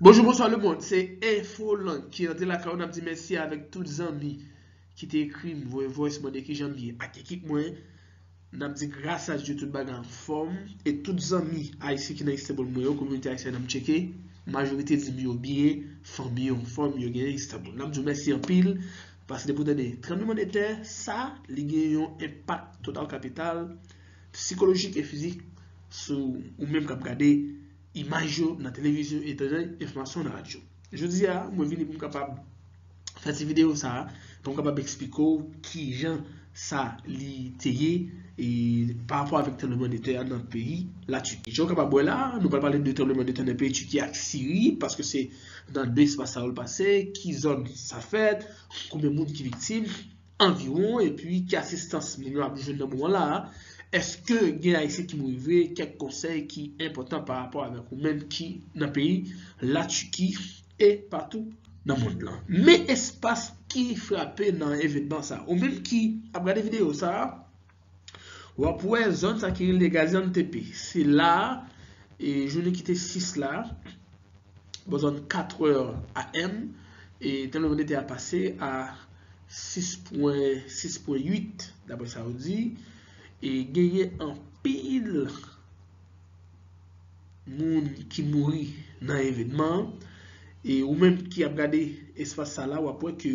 Bonjou bonswa le mond se info lang ki antre lakay ou nap di mèsi avèk tout zanmi ki te ekrim voye voice mande kijanm ye ak ekip mwen nap di gras a Dye tout bagay anfòm e tout zanmi ayisyen ki nan Istanbul mwen yo kominote ayisyèn an m tcheke majorite dim yo byen fanmi yo anfòm yo gen Istanbul nap diw mèsi anpil paske depi ou tande tranbleman de tè sa li gen yon enpak total kapital psikolojik e fizik sou ou menm kap gade Imaj yo nan televizyon etanjan enfòmasyon nan radyo. Jodi a, mwen vini pou m kapab fè ti videyo sa a, pou m kapab eksplike w ki jan sa li te ye pa rapò avèk tranbleman de tè a nan peyi Latiki. Jan w kapab wè la a, nou pral pale de tranbleman de tè nan peyi Tiki ak Siri, paske se nan de espas sa yo l pase, ki zòn sa fèt, konbyen moun ki viktim. anviwon epi ki asistans moun yo ap jwenn nan moman la a, eske gen ayisyen ki mouri vre, kèk konsèy ki enpòtan pa rapò avèk ou menm ki nan peyi la Turquie e patou nan mond lan. Men espas ki frape nan evenman sa a. Ou menm ki ap gade videyo sa a. W ap wè zòn sa ki rele Gaziantepe. Se la a, jounen ki te 6 la, bò zòn 4 è AM, tranbleman de tè a pase a 6,8 daprè sa yo di. E genyen anpil moun ki mouri nan evènman an. E ou menm ki ap gade espas sa la, w ap wè ke.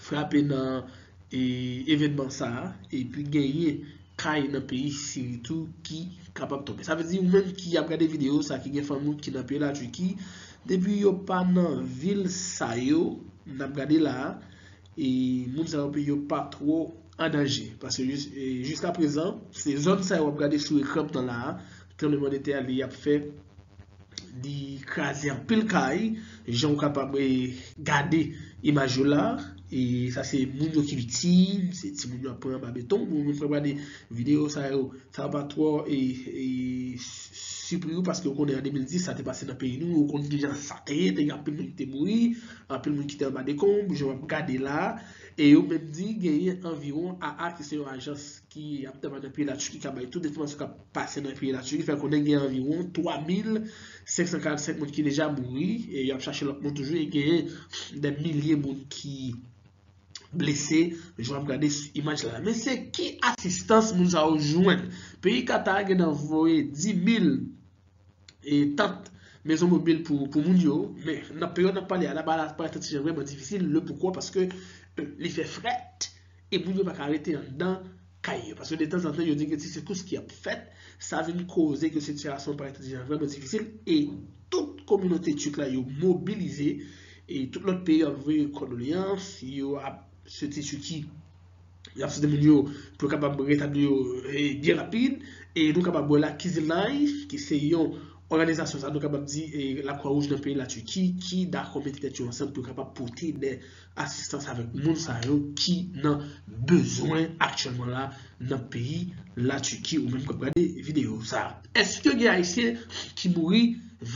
frape nan evenman sa a epi genyen kay nan peyi Siri tou ki kapab tonbe. Sa vle di ou menm ki ap gade videyo sa ki gen fanmi ou ki nan peyi Laturki, depi yo pa nan vil sa yo n ap gade la a, moun sa yo peyi yo pa twò an danje. Paske jiska prezan se zòn sa yo w ap gade sou ekran m nan la a, tranbleman de tè a li ap fè. Li kraze anpil kay, jan ou kapab gade imaj yo la. E sa se moun yo ki viktim, se ti moun yo ap pran anba beton. Moun moun pran gade videyo sa yo, sa va pa twò e sipri ou paske ou konnen an 2010 sa te pase nan peyi nou, ou konnen ki jan sa te ye, te gen anpil moun ki te mouri, anpil moun ki te anba dekonb, jan wap gade la. E yo menm di genyen anviwon AA ki se yon ajans. ki ap travay nan peyi Latiki ka bay tout enfòmasyon k ap pase nan peyi Latiki fè konnen gen anviwon 3,545 moun ki deja mouri e y ap chache lòt moun toujou e genyen dè milye moun ki blese jan w ap gade sou imaj la. Men se ki asistans moun sa yo jwenn? Peyi Kata gen nan voye 10,000 e tant mezon mobil pou moun yo, men nan peryòd n ap pale a la bagay la parèt yon ti jan vrèman difisil, le poukò paske li fè frèt e moun yo pa ka rete anndan kay yo paske detanzantan yo di gen ti sekous ki ap fèt, sa vin koze ke sitiyasyon an parèt yon ti jan vrèman difisil e tout kominote Turk la yo mobilize e tout lòt peyi ap voye kondoleyans, yo ap swete Turquie. y ap site moun yo pou yo kapab retabli yo byen rapid. E nou kapab wè la Kizilay ki se yon òganizasyon sa nou kapab di Lakwa Wouj nan peyi Latiki ki dakò mete tèt yo ansanm pou yo kapab pote de asistans avèk moun sa yo ki nan bezwen aktyèlman la nan peyi Latiki ou menm k ap gade videyo sa. Èske gen Ayisyen ki mouri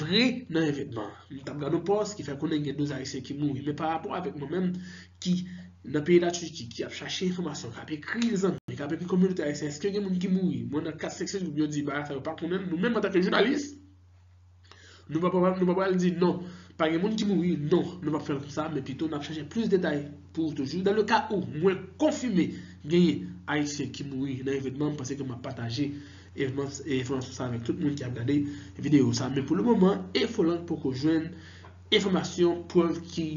vre nan evènman an? M t ap gad yon pòs ki fè konnen gen 12 Ayisyen ki mouri men parapò avèk mwen menm ki nan peyi la Turquie ki ap chache enfòmasyon kap ekri zanmi kap ekri kominote ayisyen eske gen moun ki mouri mwen nan 4 5 segonn yo di bagay sa yo pa konnen nou menm antanke jounalis nou pa pral di non pa gen moun ki mouri non nou pap fè l konsa men pito nap chache plis detay pou ou toujou dan le ka ou mwen konfime genyen ayisyen ki mouri nan evenman m panse ke map pataje enfòmasyon sa avèk tout moun ki ap gade video sa men pou le moman infoland poko jwenn Enfòmasyon, prèv ki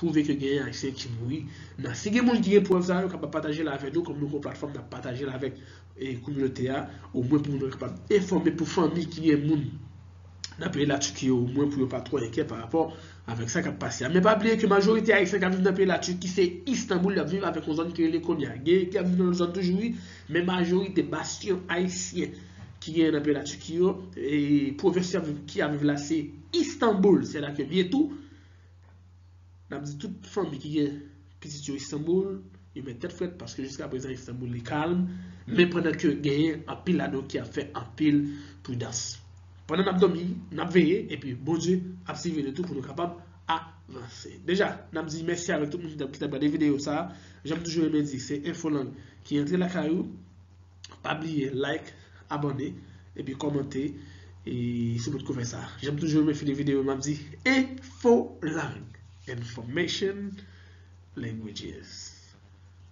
pwouve ke genyen ayisyen ki mouri nan si gen moun ki gen prèv sa yo kapab patajel avè nou kòm nou gon platfòm nap patajel avèk kominote a omwen pou moun yo kapab enfòme pou fanmi ki gen moun nan peyi la Turquie yo omwen pou yo pa twò enkè pa rapò avèk sa kap pase a men pa bliye ke majorite ayisyen kap viv nan peyi la Turquie se Istanbul yap viv avèk yon zòn ki rele Konya genyen ki ap viv nan lòt zòn toujou wi men majorite basyon ayisyen ki genyen nan peyi la Turquie yo, pwovens ki ap viv la se Istanbul, se la ke m ye tou, n ap di tout fanmi ki gen pitit yo Istanbul, yo met tèt frèt paske jiska prezan Istanbul li kalm, men pandan ke genyen anpil la nou ki ap fè anpil pridans. Pandan n ap dòmi, n ap veye, epi Bondye ap siviye nou tou pou nou kapab avanse. Deja, n ap di mèsi avèk tout moun ki t ap gade videyo sa, jan m toujou renmen di, se Infolang ki antre lakay ou. Pa bliye like, abone, epi komante si nou poko fè sa. Janm toujou renmen fini video yo map di Infolang, Information Languages.